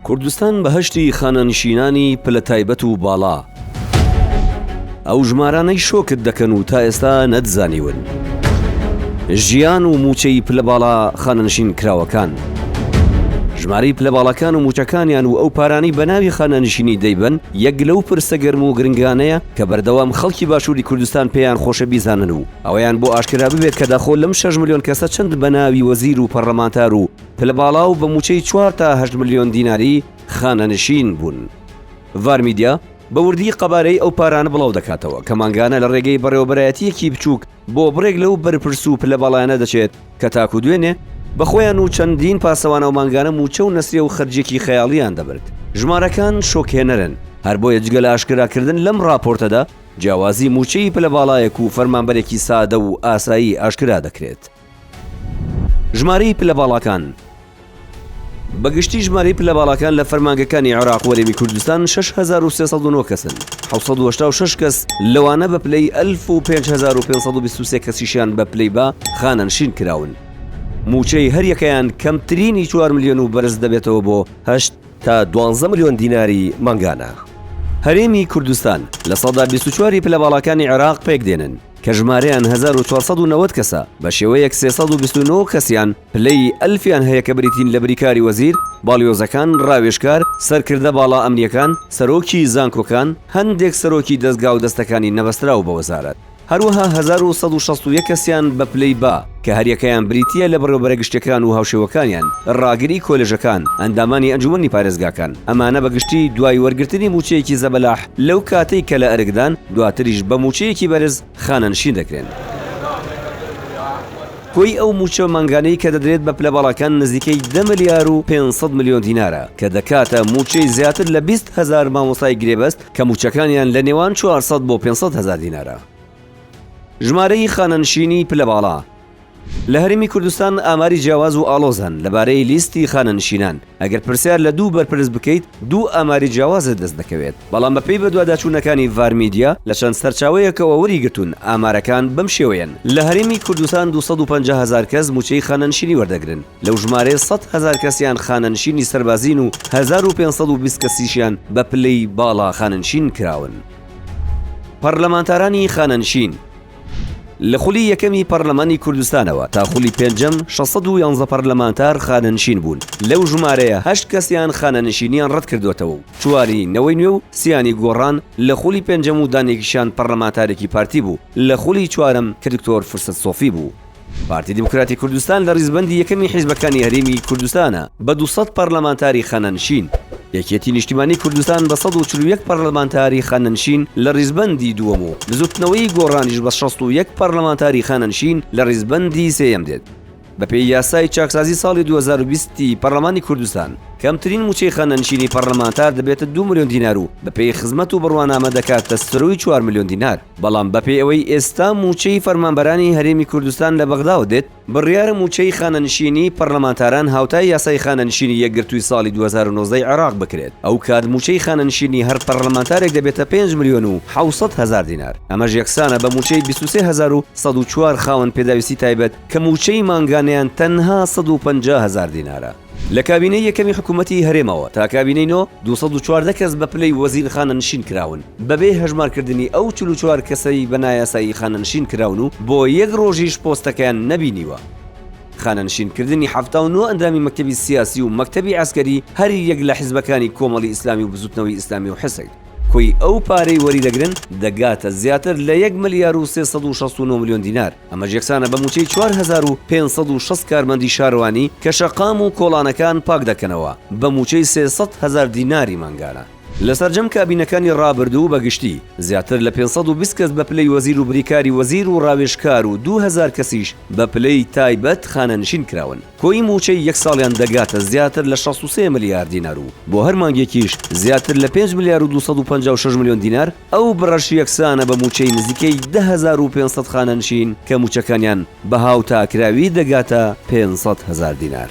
کوردستان بەهەشتی خانەنشینانی پلە تایبەت و باڵا ئەو ژمارانەی شۆکت دەکەن و تا ئێستا نەتزانیون ژیان و موچەی پلە باڵا خانەنشین کراوەکان ژمارەی پلە باڵەکان و موچەکانیان و ئەو پارانەی بە ناوی خانەنشینی دەیبەن یەک لەو پرسە گەرم و گرنگانەیە کە بەردەوام خەڵکی باشووری کوردستان پێیان خۆشە بیزانن و ئەوەیان بۆ ئاشکرا ببێت کە داخۆ لەم شەش ملیۆن کەسە چەند بە ناوی وەزیر و پەڕڵەمانتار و پلە باڵا و بە مووچەی چوار تا هەشت ملیۆن دیناری خانەنشین بوون؟ ڤارمیدیا بە وردی قەبارەی ئەو پارانە بڵاو دەکاتەوە کە مانگانە لە ڕێگەی بەڕێوەبەرایەتییەکی بچووک بۆ بڕێک لەو بەرپرس و پلە باڵایانە دەچێت کە تاکوو دوێنێ بە خۆیان و چەندین پاسەوانەوە مانگانە مووچە و نەسرێ و خەرجییەکی خەیاڵییان دەبرد. ژمارەکان شۆکهێنەرن، هەر بۆیە جگە لە ئاشکراکردن لەم ڕاپۆرتەدا جیاوازی مووچەی پلە باڵایەک و فەرمانبەرێکی سادە و ئاسایی ئاشکرا دەکرێت. ژمارەی پلە باڵاکان بە گشتی ژمارەی پلە باڵاکان لە فەرمانگەکانی عێراق و هەرێمی کوردستان 6309 کەسن، 786 کەس لەوانە بە پلەی ئەلف و 5523 کەسیشیان بە پلەی با خانەنشین کراون. مووچەی هەریەکەیان کەمترینی چوار ملیۆن و بەرز دەبێتەوە بۆ هەشت. تا دوانزە ملیۆن دیناری مانگانە. هەرێمی کوردستان لە سەدا بیست و چوار ی پلە باڵاکانی عێراق پێکدێنن، کە ژمارەیان هەزار و چوار سەد و نەوەد کەسە، بە شێوەیەک سێ سەد و بیست و نۆ کەسیان پلەی ئەلفیان هەیە کە بریتین لە بریکاری وەزیر، باڵیۆزەکان، راوێژکار، سەرکردە باڵا ئەمنییەکان، سەرۆکی زانکۆکان، هەندێک سەرۆکی دەزگا و دەستەکانی نەبەستراو بە وەزارەت. هەروەها هەزار و سەد و شەست و یەک کەسیان بە پلەی با، کە هەریەکەیان بریتییە لە بەڕێوەبەرە گشتیەکان و هاوشێوەکانیان، ڕاگری کۆلێژەکان، ئەندامانی ئەنجومەنی پارێزگاکان، ئەمانە بە گشتی دوای وەرگرتنی مووچەیەکی زەبەلاح لەو کاتەی کە لە ئەرکدان، دواتریش بە مووچەیەکی بەرز خانەنشین دەکرێن. کۆی ئەو مووچە مانگانەی کە دەدرێت بە پلە باڵاکان نزیکەی دە ملیار و پێنج سەد ملیۆن دینارە، کە دەکاتە مووچەی زیاتر لە بیست هەزار مامۆستای گرێبەست، کە مووچەکانیان لە نێوان چوار سەد بۆ پێنج سەد هەزار دینارە. ژمارەی خانەنشینی پلە باڵا، لە هەرێمی کوردستان ئاماری جیاواز و ئاڵۆز هەن لەبارەی لیستی خانەنشینان، ئەگەر پرسیار لە دوو بەرپرس بکەیت دوو ئاماری جیاوازت دەست دەکەوێت، بەڵام بەپێی بەدواداچوونەکانی ڤارمیدیا لە چەند سەرچاوەیەکەوە وەریگرتوون ئامارەکان بەم شێوەیەن، لە هەرێمی کوردستان دوو سەد و پەنجا هەزار کەس مووچەی خانەنشینی وەردەگرن، لەو ژمارەیە سەد هەزار کەسیان خانەنشینی سەربازین و هەزار و پێنج سەد و بیست کەسیشیان بە پلەی باڵا خانەنشین کراون. پەڕلەمانتارانی خانەنشین، لە خولی یەکەمی پەڕلەمانی کوردستانەوە تا خولی پێنجەم شەش سەد و یانزە پەڕلەمانتار خانەنشین بوون، لەو ژمارەیە هەشت کەسیان خانەنشینیان ڕەتکردۆتەوە و چواری نەوەی نوێ و سیانی گۆڕان لە خولی پێنجەم و دانێکیشان پەڕلەمانتارێکی پارتی بوو لە خولی چوارەم کە دکتۆر فرسەت سۆفی بوو. پارتی دیموکراتی کوردستان لە ریزبەندی یەکەمی حیزبەکانی هەرێمی کوردستانە بە دوو سەد پەرلەمانتاری خانەنشین، یەکێتی نیشتیمانی کوردستان بە سەد و چل و یەک پەرلەمانتاری خانەنشین لە ریزبەندی دووەم و بزوتنەوەی گۆڕانیش بە شەست و یەک پەرلەمانتاری خانەنشین لە ریزبەندی سێیەم دێت. بەپێی یاسای چاکسازی ساڵی دوو هەزار و بیست ی پەرلەمانی کوردستان، کەمترین مووچەی خانەنشینی پەرلەمانتار دەبێتە دوو ملیۆن دینار و بەپێی خزمەت و بڕوانامە دەکاتە سروی چوار ملیۆن دینار. بەڵام بەپێی ئەوەی ئێستا مووچەی فەرمانبەرانی هەرێمی کوردستان لە بەغداوە دێت، بڕیارە مووچەی خانەنشینی پەڕلەمانتاران هاوتای یاسای خانەنشینی یەکگرتووی ساڵی دوو هەزار و نۆزدە ی عێراق بکرێت، ئەوکات مووچەی خانەنشینی هەر پەڕلەمانتارێک دەبێتە پێنج ملیۆن و حەوت سەد هەزار دینار، ئەمەش یەکسانە بە مووچەی بیست و سێ هەزار و سەد و چوار خاوەن پێداویستی تایبەت کە مووچەی مانگانەیان تەنها سەد و پەنجا هەزار دینارە. لە کابینەی یەکەمی حکوومەتی هەرێمەوە تا کابینەی نۆ، دوو سەد و چواردە کەس بە پلەی وەزیر خانەنشین کراون، بەبێ هەژمارکردنی ئەو چل و چوار کەسەی بە نایاسایی خانەنشین کراون و بۆ یەک رۆژیش پۆستەکەیان نەبینیوە. خانەنشینکردنی حەفتا و نۆ ئەندامی مەکتەبی سیاسی و مەکتەبی عەسکەری هەر یەک لە حزبەکانی کۆمەڵی ئیسلامی و بزووتنەوەی ئیسلامی و حسک کۆی ئەو پارەی وەریدەگرن دەگاتە زیاتر لە یەک ملیار و سێ سەد و شەست و نۆ ملیۆن دینار. ئەمەش یەکسانە بە مووچەی چوار هەزار و پێنج سەد و شەست کارمەندی شارەوانی کە شەقام و کۆڵانەکان پاک دەکەنەوە بە مووچەی سێ سەد هەزار دیناری مانگانە. لە سەرجەم کابینەکانی ڕابردوو بە گشتی، زیاتر لە پێنج سەد و بیست کەس بە پلەی وەزیر و بریکاری وەزیر و ڕاوێژکار و دوو هەزار کەسیش بە پلەی تایبەت خانەنشین کراون. کۆی مووچەی یەک ساڵیان دەگاتە زیاتر لە شەست و سێ ملیار دینار و بۆ هەر مانگێکیش زیاتر لە پێنج ملیار و دوو سەد و پەنجا و شەش ملیۆن دینار، ئەو بڕەش یەکسانە بە مووچەی نزیکەی دە هەزار و پێنج سەد خانەنشین کە مووچەکانیان بەها و تاکراوی دەگاتە پێنج سەد هەزار دینار.